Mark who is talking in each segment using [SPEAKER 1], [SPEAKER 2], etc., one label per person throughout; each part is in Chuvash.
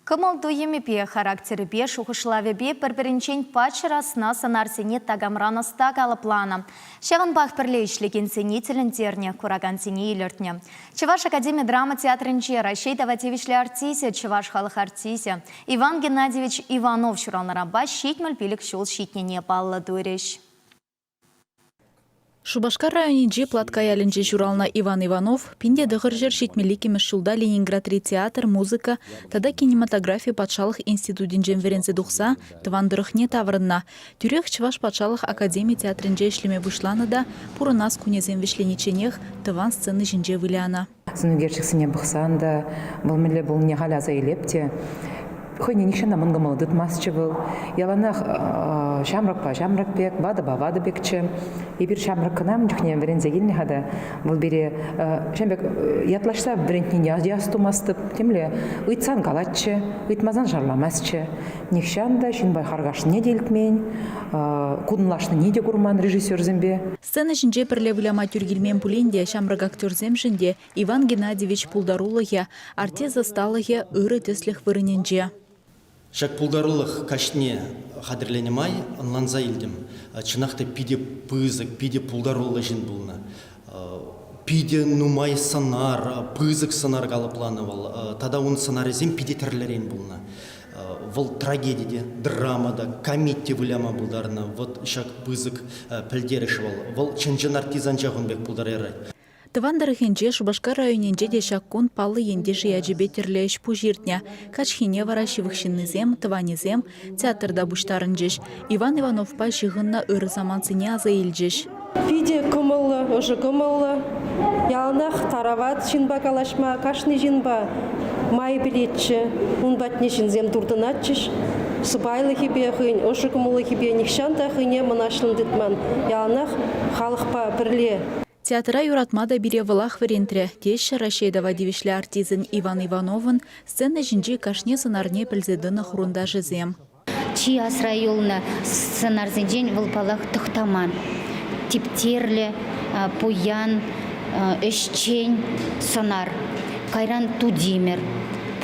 [SPEAKER 1] Кӑмӑл-туйӑмӗпе, характерӗпе, шухӑшлавӗпе пӗр-пӗринчен паччӑр асна сӑнарсене такамран ӑста калӑпланӑ. Ҫавӑнпах пӗрле ӗҫлекенсене тӗлӗнтернӗ, куракансене илӗртнӗ. Чӑваш академи драма театрӗнче Раҫҫей тава тивӗҫлӗ артисчӗ, чӑваш халӑх артисчӗ Иван Геннадьевич Иванов ҫуралнӑранпа ҫитмӗл пилӗк ҫул ҫитнине паллӑ турӗҫ.
[SPEAKER 2] Шупашкар районӗнчи Платка ялӗнче ҫуралнӑ Иван Иванов пин те тӑхӑр ҫӗр ҫитмӗл иккӗмӗш ҫулта Ленинградри театр, музыка тата кинематографи патшалӑх институтӗнчен вӗренсе тухса тӑван тӑрӑхне таврӑннӑ. Тӳрех Чӑваш патшалӑх академи театрӗнче ӗҫлеме пуҫланӑ та пурӑнас кунӗсем вӗҫленичченех тӑван сцена ҫинче вылянӑ. сӑнӳкерчӗксене
[SPEAKER 3] пӑхсан та вӑл мӗнле пулнине халь аса илеп те хӑйне нихҫана мӑн кӑмӑл тытмастчӗ вӑл. Яланах ҫамрӑкпа ҫамрӑк пек, ватӑпа ватӑ пекчӗ. Эпир ҫамрӑк кӑна ун чухне вӗренсе килнӗ-ха та вӑл пире ҫавӑн пек ятлаҫса вӗрентнине астумастӑп. Темле ыйтсан калатчӗ, ыйтмасан шарламастчӗ. Нихҫан та ҫынпа харкашнине те илтмен, кутӑнлашнине те курман режиссерсемпе. Сцена ҫинче пӗрле
[SPEAKER 2] выляма тӳр килмен пулин те ҫамрӑк актерсемшӗн те Иван Геннадьевич пултарулӑхӗ, артист ӑсталӑхӗ ырӑ тӗслӗх вырӑнӗнче. Ҫак
[SPEAKER 4] пултарулӑх каҫне хатӗрленӗ май ӑнланса илтӗм, чӑнах та питӗ пысӑк, питӗ пултаруллӑ ҫын пулнӑ. Питӗ нумай сӑнар, пысӑк сӑнар калӑпланӑ вӑл тата ун сӑнарӗсем питӗ тӗрлӗрен пулнӑ. Вӑл трагеди те, драма та, комеди выляма пултарнӑ. Вот ҫак пысӑк пӗлтерӗш вӑл. Вӑл чӑн-чӑн артизанча кун пек пултарарать. Тӑван тӑрӑхӗнче,
[SPEAKER 2] Шупашкар районӗнче те ҫак кун паллӑ ентеш ячӗпе тӗрлӗ ӗҫ-пуҫ иртнӗ. Каҫхине вара ҫывӑх ҫыннисем, тӑванӗсем театрта пуҫтарӑнчӗҫ. Иван Ивановпа ҫыхӑннӑ ырӑ самантсене аса илчӗҫ. Питӗ
[SPEAKER 5] кӑмӑллӑ, ӑшӑ кӑмӑллӑ, яланах тарават ҫынпа калаҫма, кашни ҫынпа май пӗлетчӗ. Ун патне ҫынсем туртӑнатчӗҫ. Сӑпайлӑхӗпе, хӑйӗн ӑшӑ кӑмӑллӑхӗпе нихҫан та хӑйне мӑнаҫлӑн тытман, яланах халӑхпа пӗрле. Театра юратма
[SPEAKER 2] та пире вӑлах вӗрентрӗ, теҫҫӗ Раҫҫей тава тивӗҫлӗ артистӑн Иван Ивановӑн сцена ҫинчи кашни сӑнарне пӗлсе тӑнӑ хурӑнташӗсем. Чи асра
[SPEAKER 6] юлнӑ сӑнарсенчен вӑл, паллах, Тӑхтаман, Типтерлӗ, Пуян, Ӗҫчен сӑнар, кайран Тутимер,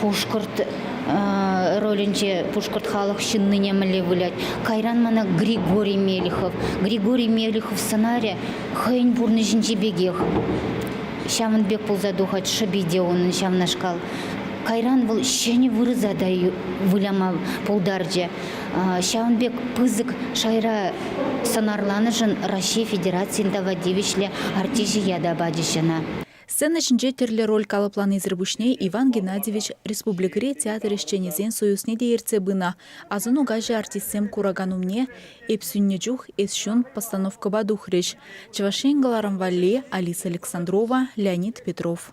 [SPEAKER 6] Пушкӑрт ролӗнче пушкӑрт халӑх ҫыннине мӗнле вылять, кайран мана Григорий Мелихов. Григорий Мелихов сӑнарӗ хӑйӗн пурнӑҫӗнчи пекех. Ҫавӑн пек пулса тухать шӑпи те унӑн ҫавнашкал. Кайран вӑл ҫӗнӗ вырӑса та выляма пултарчӗ. Ҫавӑн пек пысӑк шайра сӑнарланӑшӑн Раҫҫей Федерацийӗн тава тивӗҫлӗ артисчӗ ята пачӗҫ ӑна. Сцена ҫинче
[SPEAKER 2] тӗрлӗ роль калӑпланисӗр пуҫне Иван Геннадьевич республикӑри театр ӗҫченӗсен союзне те ертсе пынӑ. Асӑну каҫӗ артистсем куракан умне «Эп сӳннӗ чух эс ҫун» постановкӑпа тухрӗҫ. Чӑваш Ен кӑларӑм валли Алиса Александрова, Леонид Петров.